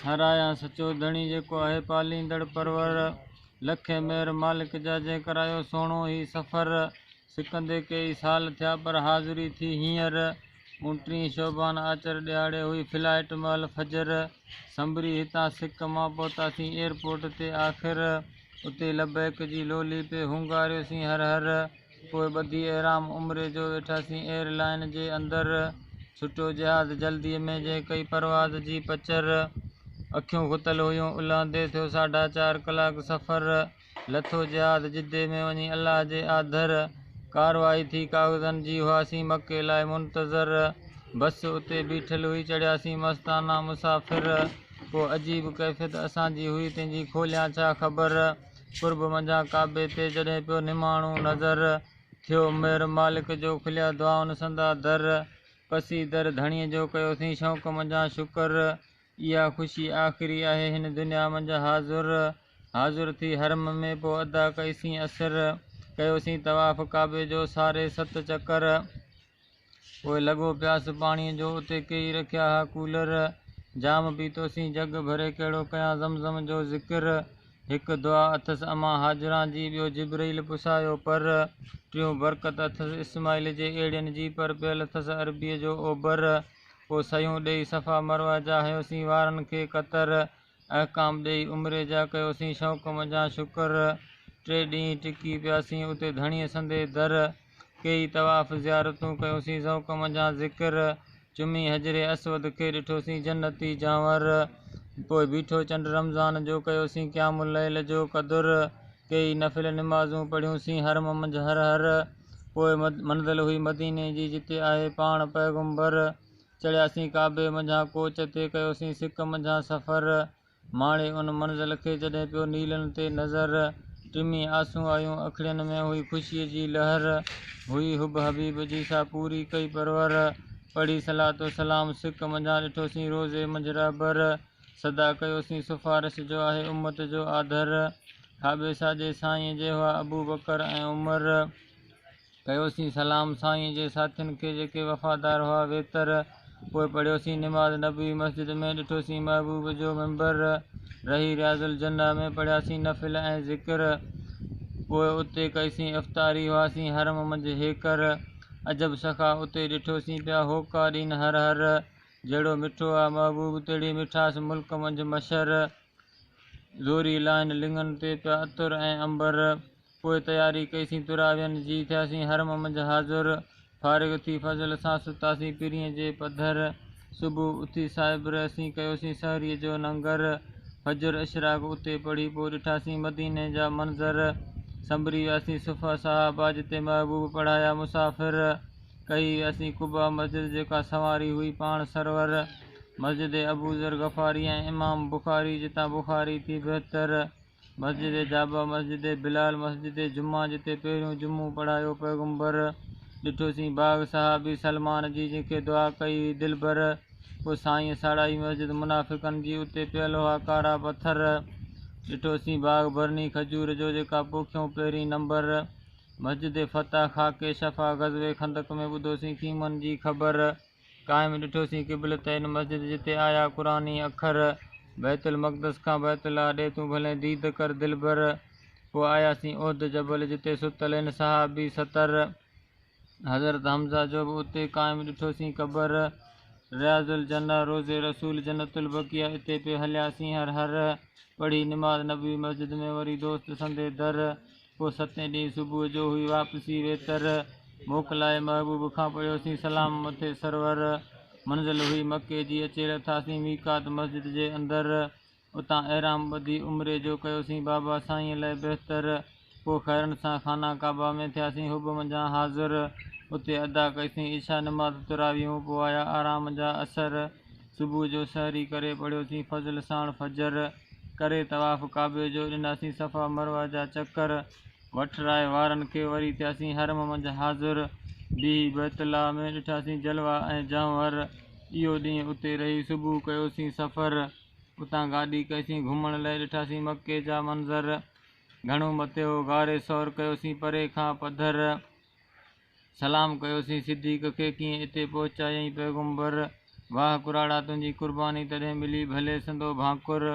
ساراهيان سچو ڌڻي جيڪو آهي پاليندڙ پرور لکي مهر مالڪ جا جنهن ڪرايو سهڻو هي سفر سڪندي ڪيئي سال ٿيا پر حاضري ٿي هينئر اونٽرين شعبان آچر ڏهاڙي هئي فلائيٽ مهل فجر سنبري هتان سڪ مان پهتاسين ايئرپورٽ تي آخر اتي لبيڪ جي لولي پئي هونگاريوسين هر هر پوء ٻڌي احرام عمري جو ويٺاسين ايئر لائين جي اندر ڇٽو جهاز جلدي ۾ جنهن ڪئي پرواز جي پچر اکيون ختل هيون الهندي ٿيو ساڍا چار ڪلاڪ سفر لٿو جهاز جدي ۾ وڃي الله جي آڌر ڪارروائي ٿي ڪاغذن جي هئاسين مڪي لاء منتظر بس اتي بيٺل هئي چڙهياسين مستانه مسافر ڪو عجيب ڪيفيت اسان جي هئي تنهنجي کوليان ڇا خبر قرب منجهان ڪعبي تي جڏهن پيو نماڻو نظر، ٿيو مهر مالڪ جو کليا دعائن سندا در، پسي در ڌڻيء جو ڪيوسين شوق منجهان شڪر، اها خوشي آخري آهي هن دنيا منجهه حاضر، حاضر ٿي حرم ۾ پوء ادا ڪئيسين عصر، ڪيوسين طواف ڪعبي جو ساري ست چڪر. پوء لڳو پياس پاڻيء جو، اتي ڪيئي رکيا ها ڪولر، جام پيتوسين جڳ ڀري ڪهڙو ڪيان زمزم جو ذڪر، هڪ دعا اٿس امان هاجران جي، ٻيو جبرئيل پسايو پر، ٽيون برڪت اٿس اسماعيل جي ايڙين جي، پر پيل اٿس عربيء جو اوبر، پوء سهيون ڏيئي صفا مروه جا هنيوسين وارن کي قطر، احڪام ڏيئي عمري جا ڪيوسين شوق منجهان شڪر ٽي ڏينهن ٽڪي پياسين اتي ڌڻيء سندي در ڪيئي طواف زيارتون ڪيوسين ذوق منجهان ذڪر چمي حجر اسود کي ڏٺوسين جنتي جانور پوء بيٺو چنڊ رمضان جو ڪيوسين قيام اليل جو قدر ڪيئي نفل نمازون پڙهيونسين حرم منجهه هر هر پوء منزل هئي مديني جي جتي آهي پاڻ پيغمبر چڙهياسين ڪعبي منجهان ڪوچ تي ڪيوسين سڪ منجهان سفر ماڻي ان منزل کي جڏهن پيو نيلن تي نظر ٽمي آسون آيون اکڙين ۾ هئي خوشي جي لهر هئي حب حبيب جي سا پوري ڪئي پرور پڙهي صلات و سلام سڪ منجهان ڏٺوسين روضي منجهه رهبر سدا ڪيوسين سفارش جو آهي امت جو آڌر کاٻي ساڄي سائينء جي هئا ابوبڪر ۽ عمر. ڪيوسين سلام سائينء جي ساٿين کي جيڪي وفادار هئا ويتر پوء پڙهيوسين نماز نبوي مسجد ۾ ڏٺوسين محبوب جو منبر رهي رياض الجنه ۾ پڙهياسين نفل ۽ ذڪر پوء اتي ڪئيسين افطاري هئاسين حرم منجهه هيڪر عجب سخا اتي ڏٺوسين پيا هوڪا ڏين هر هر جهڙو مٺو آ محبوب تهڙي مٺاس ملڪ منجهه مشهر زوري لائن لڱن تي پيا عطر ۽ عنبر پوء تياري ڪئيسين تراوين جي، ٿياسين حرم منجھ حاضر، فارغ ٿي فضل سان ستاسين پرينء جي پڌر، صبح اٿي صائب رهيسين، ڪيوسين سحريء جو ننگر، فجر اشراق اتي پڙهي پوء ڏٺاسين مديني جا منظر، سنبري وياسين صفه صحابه جتي محبوب پڙهايا مسافر، ڪهي وياسين قباء مسجد جيڪا سنواري هئي پاڻ سرور، مسجد ابوذر غفاري ۽ امام بخاري جتان بخاري ٿي بهتر، مسجد جابه، مسجد بلال، مسجد جمعه جتي پهريون جمعو پڙهايو پيغمبر، ڏٺوسين باغ صحابي سلمان جي جنهن کي دعا ڪئي هئي دلبر، پوء سائينء ساڙائي مسجد منافقن جي اتي پيل هئا ڪارا پٿر، ڏٺوسين باغ برني کجور جو جيڪا پوکيون پهرين نمبر، مسجد فتح خاڪي شفا غزوي خندق ۾ ٻڌوسين خيمن جي خبر. قائم ڏٺوسين قبلت ان مسجد جتي آيا قرآني اکر بيت المقدس کان بيت الله ڏي تون ڀلين ديد ڪر دلبر پوء آياسين احد جبل جتي ستل ان صحابي ستر حضرت حمزه جو به اتي قائم ڏٺوسين قبر رياض الجنه روضي رسول جنت البقيع اتي پي هلياسين هر هر پڙهي نماز نبوي مسجد ۾ وري دوست سندي در پوء ستين ڏينهن صبح جو هئي واپسي ويتر، موڪلائي محبوب کان پڙهيوسين سلام مٿي سرور، منزل هئي مڪي جي اچي لٿاسين ميقات مسجد جي اندر، اتان احرام ٻڌي عمري جو ڪيوسين بابا سائينء لئه بهتر، پوء خيرن سان خانه ڪعبه ۾ ٿياسين حب منجهان حاضر، اتي ادا ڪئيسين عشاء نماز تراويحون پوء آيا آرام جا عصر. صبح جو سحري ڪري پڙهيوسين فضل ساڻ فجر، ڪري طواف ڪعبي جو، ڏناسين صفا مروه جا چڪر، وٺرائي وارن کي وري ٿياسين حرم منجهه حاضر، بيهي بيت الله ۾ ڏٺاسين جلوه ۽ جهونر، اهو ڏينهن اتي رهي صبح ڪيوسين سفر، اتان گاڏي ڪئيسين گهمڻ لئه ڏٺاسين مڪي جا منظر، گهڻو مٿي هو غار ثور ڪيوسين پري کان پڌر، سلام ڪيوسين صديق کي ڪيئن اتي پهچايئين پيغمبر واهه ڪراڙا تنهنجي قرباني تڏهن ملي ڀلي سندو ڀانڪر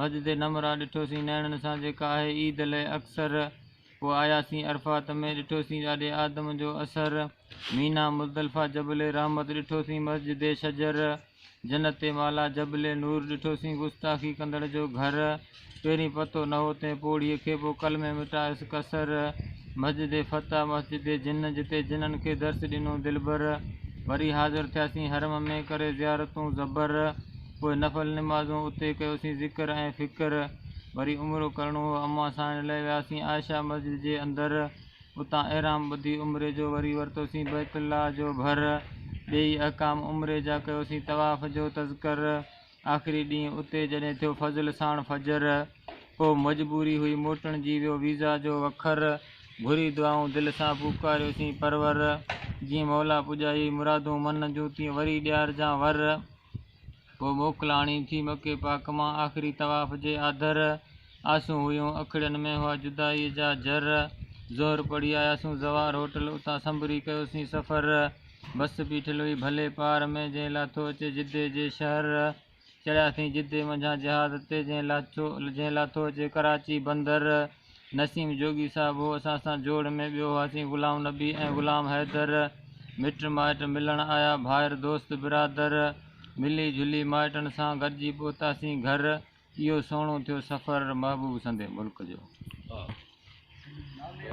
مسجد نمرا ڏٺوسين نيڻن سان جيڪا آهي عيد لئه اڪثر پوء آياسين عرفات ۾ ڏٺوسين ڏاڏي آدم جو اثر مينا مزدلفه جبل رحمت ڏٺوسين مسجد شجر جنت والا جبل نور ڏٺوسين گستاخي ڪندڙ جو گهر پهرين پتو نه هو تنهن پوڙهي کي پوء قلمي مٽايس قصر مسجد فتح مسجد جن جتي جنن کي درس ڏنو دلبر وري حاضر ٿياسين حرم ۾ ڪري زيارتون زبر پوء نفل نمازون اتي ڪيوسين ذڪر ۽ فڪر وري عمرو ڪرڻو هو امان ساڻ لئه وياسين عائشه مسجد جي اندر اتان احرام ٻڌي عمري جو وري ورتوسين بيت الله جو ڀر ڏيئي احڪام عمري جا ڪيوسين طواف جو تذڪر آخري ڏينهن اتي جڏهن ٿيو فضل ساڻ فجر پوء مجبوري هئي موٽڻ جي ويو ويزا جو وکر گهري دعائون دل سان پوڪاريوسين پرور جيئن مولا پڄائي مرادون من جون تيئن وري ڏيارجان ور. پوء موڪلاڻي ٿي مڪي پاڪ مان آخري طواف جي آڌر آسون هيون اکڙين ۾ هئا جدائي جا جر ظهر پڙهي آياسون زوار هوٽل اتان سنبري ڪيوسين سفر بس بيٺل هئي ڀلي پار ۾ جنهن لاٿو اچي جدي جي شهر چڙهياسين جدي منجهان جهاز تي جنهن لاٿو اچي ڪراچي بندر نسيم جوڳي صاحب هو اسان سان جوڙ ۾ ٻيو هئاسين غلام نبي ۽ غلام حيدر مٽ مائٽ ملڻ آيا ڀائر دوست برادر ملي جھلي مائٽن سان گڏجي پهتاسين گھر اهو سهڻو ٿيو سفر محبوب سندي ملڪ جو.